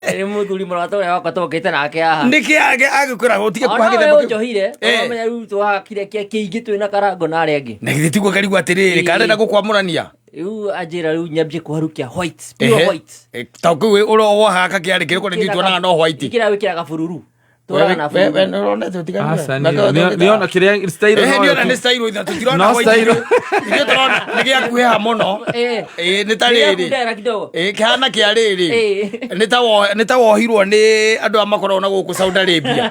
Eri muthuri mũrata ũrĩa wakwa tũngĩte nake haha. Nĩkĩ age- agĩkũraga ũtige Ona kuhagĩra we mũkĩ- ũnjohire, Eh. ũramenya rĩu twakire kĩa kĩingĩ twĩ na karango na arĩa angĩ. na githĩ tiguo karigwo atĩrĩrĩ Ĩĩ. karenda gũkwamũrania Rĩu anjĩra rĩu nyambie kũharũkia white, pure Ehe. white. Eh, ta kĩu ũrĩa wohaga kakĩarĩ kĩrĩ kũrĩa Ĩkĩra gitwo naga ka- no white ĩkĩra wĩkĩraga bururu. nĩona kĩrĩa nĩona nĩ stairwo itha tũtirona ithuĩ tũrona nĩ gĩa kuheha mũno nĩ ta rĩrĩ kĩhana kĩa rĩrĩ nĩ ta wohirwo nĩ andũ a makoragwo na gũkũ Saudi Arabia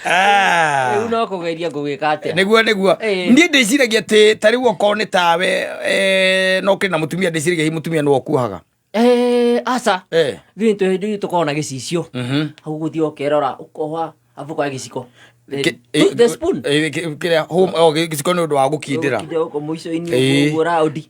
Ah. rĩu no kũgeria ngũgĩka atĩa nĩguo nĩguo Ĩĩ. niĩ ndĩciragia atĩ ta rĩu okorwo nĩ tawe eh, no kĩrĩ na mũtumia ndĩciragia hi mũtumia nĩwe ũkuohaga Eh, aca Eh. ithuĩ nĩ tũhĩndĩ ithuĩ tũkoragwo na gĩcicio Mhm. hau gũthiĩ ũkerora ũkoha abu ũkoya gĩciko The- Kĩ- eh, the spoon eh, kĩ- kĩrĩa home- oh, gĩ- gĩciko nĩ ũndũ wa gũkindĩra Ũkinde gũkũ mũico-inĩ Ĩĩ. ũguo raundi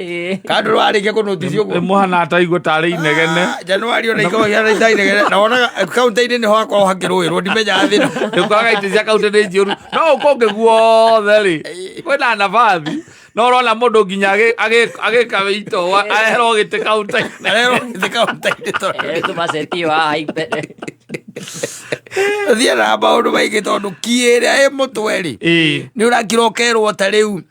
Eh. kana ndũrarĩkia kũnotisi ũguo mũhana ataigua tarĩ inegene Ah, januari ona ikoragwo ihana itarĩ inegene na wonaga eh, kaunti-inĩ nĩho hakoragwo hakĩrũĩrwo ndimenyaga thĩna ndũkaga itĩ cia kaunti nĩ njũru no ũkũngĩ guothe rĩ kwĩna nabathi no ũrona mũndũ nginya agĩ- agĩ- agĩka wĩito aherwo gĩtĩ kaunti-inĩ arero thĩ kaunti-inĩ tondũ Eh, tũmacetio haha imbere thiä na maå ndå maingä tondå kiä rä a ä må twe rä Ĩĩ. nä å rakira å kerwo ta rä u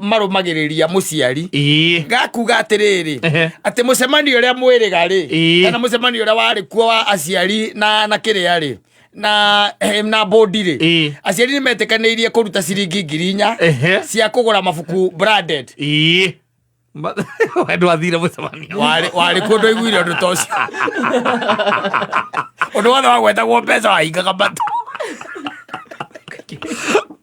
marũmagĩrĩria mũciari ĩĩ gakuga atĩrĩrĩ Ehe. atĩ mũcemanio ũrĩa mwĩrĩga rĩ Ĩĩ. kana mũcemanio ũrĩa warĩ kuo wa aciari na na kĩrĩa rĩ na eh, na bondi rĩ Ĩĩ. aciari nĩ metĩkanĩirie kũruta ciringi ngiri inya Ehe. cia kũgũra mabuku branded ĩĩ Ma- andũ athire mũcemanio warĩ warĩ kuo ndoiguire ũndũ ta ũcio ũndũ wothe wagwetagwo mbeca wahingaga mata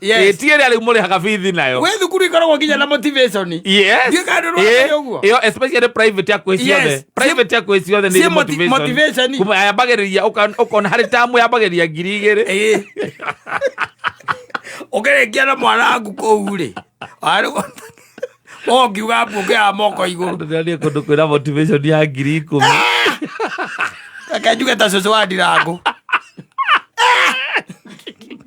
Yes. ĩtiä rä a rä u må rä haga bithi nayo gwä thukuru ikoragwo nginya na motivation Yes. Ndiũĩ kana nĩ ũrona Eh, ũguo. ĩyo especially private ya kwĩ Yes. ciothe private ya kwĩ ciothe nĩ Ciĩ irĩ moti- motivation. Kuma yambagĩrĩria ũka- ũkona harĩ tamu yambagĩrĩria ngiri igĩrĩ Ĩĩ. ũkĩrĩkia na mwanangu kũu rĩ ongiuga mbuongeaga moko igũrũ ndĩrarĩa kũndũ kwĩna motivation ya ngiri ikũmi reke njuge ta cũcũ wa ndirangũ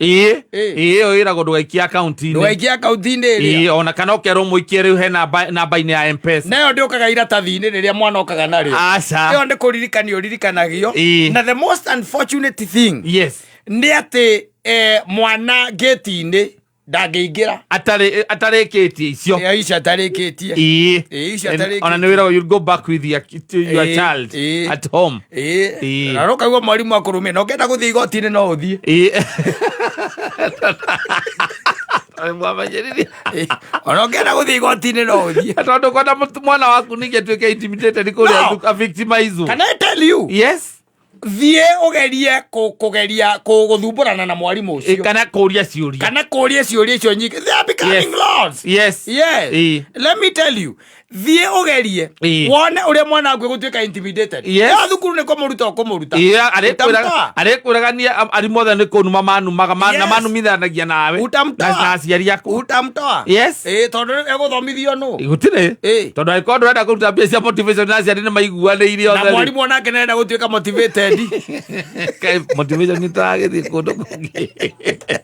ĩĩ Ĩĩ. ĩĩ ĩyo ĩragwo ndũgaikia akaunti-inĩ ndũgaikia akaunti-inĩ ĩrĩa ĩĩ ona kana ũkerwo mũikie rĩu he namba- namba-inĩ ya mpesa nayo ndĩũkaga iratathi-inĩ rĩrĩa mwana okaga narĩo ĩyo aca nĩ kũririkanio ririkanagio Ĩĩ. na the most unfortunate thing yes nĩ atĩ eh, mwana ngĩti-inĩ ndangĩingĩra Atarĩ- atarĩkĩtie icio Eh, icio atarĩkĩtie ĩĩ Ĩĩ, icio And- atarĩkĩtie. ona nĩ wĩra you go back with your, your Ĩĩ, child ĩĩ. at home Ĩĩ. Ĩĩ. na nokaigua mwarimũ akũrũmia na ũkenda gũthiĩ igoti-inĩ no ũthiĩ Ĩĩ. Mwamenyerithia. Ĩĩ. ona ũkenda gũthiĩ igoti-inĩ no ũthiĩ tondå kona mũtu- mwana waku ningä tuä ke intimidated kå rä No. a victimizwo Can I tell you? yes thiä å gerie kå geria kå gå thumbårana na mwarimå å Ĩ, cio kana kå ria ciå ria kana kå ria ciå ria icio nyingä They are becoming Yes. lords. yes Yes. Ĩĩ. Let me tell you. thiä å gerie Ĩĩ. wone å rä a mwana waku gå tuä ka Yes. yo thukuru nä kå må ruta å kå må ruta Iya, arĩkwĩraga- Utamtoa. arĩkwĩraga niĩ am- arimũ othe nĩ kũnuma manumaga ma- na Yes. manumithanagia nawe Utamtoa. na na aciari aku utamtoa Yes. ä tondå ä gå thomithio nå gũtirĩ Ĩĩ. tondå angĩkorwo ndũrenda kũruta mbia cia motivation na aciari nĩ maiguanĩire na othe mwarimå onake nenda gå tuä ka motivated motivation nĩ tũragĩthiĩ kũndũ kũngĩ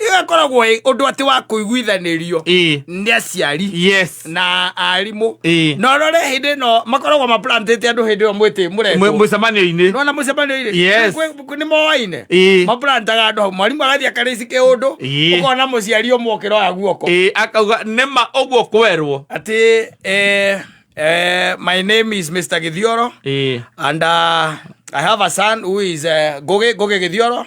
ĩyo ĩkoragwo ĩ ũndũ atĩ wa kũiguithanĩrio ĩĩ nĩ aciari yes na arimũ Ĩĩ. na rore hĩndĩ ĩno makoragwo maplantĩte andũ hĩndĩ ĩyo mwĩtĩ Mũ- mũretwo mũcemanio-inĩ nona mũcemanio-inĩ Yes. nĩ moaine Ĩĩ. maplantaga andũ hau mwarimũ agathiĩ akarĩci kĩũndũ Ĩĩ. ũkona mũciari ũmwe ũkĩroya guoko ĩĩ akauga nĩma ũguo kwerwo atĩ eh, eh, my name is mr githioro ĩĩ and uh, i have a son who is uh, ngugi ngugi githioro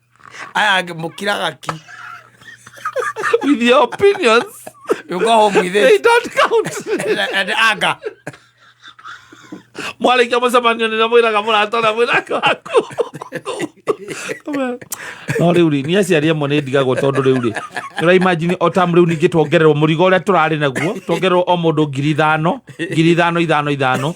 aya mukira gaki with your opinions you go home with they this don't count and, and anger mwarĩkia mũcemanio nĩrĩa mwĩraga mũrata ũrĩa mwĩraga waku no rĩu rĩ nĩ aciari amwe nĩ ndigagwo tondũ rĩu rĩ ũraimajini o tam rĩu ningĩ tuongererwo mũrigo ũrĩa tũrarĩ naguo tuongererwo o mũndũ ngiri ithano ngiri ithano ithano ithano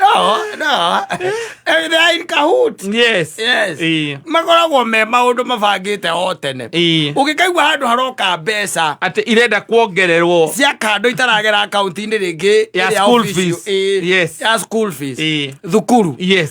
no no they're in cahoots yes yes Ii. makoragwo me maundu mabangite o tene Ii. ungikaigua handu haroka mbeca atä irenda kuongererwo cia kando itaragera akaunti-inĩ rĩngĩ Ya ĩrĩa school official. fees. Ĩĩ, Yes. ya school fees Ĩĩ. thukuru yes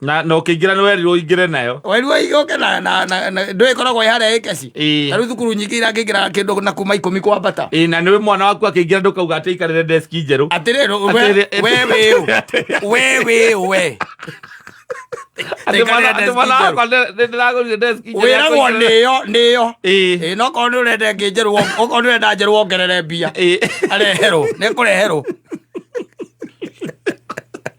na na ukiingira ni werirwo uingire nayo werirwo igoke na na na ndwe koragwo ya hare ikeci na riu thukuru nyingi ira ngingira kindu na kuma ikumi kwa bata ii na niwe mwana waku akiingira ndukauga ati ikarire desk njeru atiriri we we we we we wiragwo niyo niyo no korwo ni urenda ngi njeru okorwo ni urenda njeru wongerere mbia areherwo ni kureherwo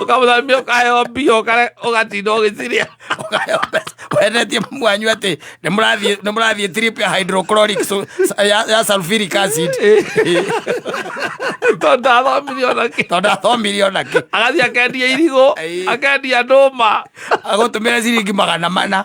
Ũkamũtha mbia ũkaheo mbia ũkare- ũgatinda ũgĩciria Ũkaheo mbeca. wendetie mamu wanyu atĩ nĩ mũrathiĩ- nĩ mũrathiĩ trip ya hydrochloric so- ya- ya sulfuric acid tondũ ndathomire ona kĩ tondũ athomirie ona kĩ agathiĩ akendia irigũ Ĩĩ. akendia ndũma agũtũmĩre ciringi magana mana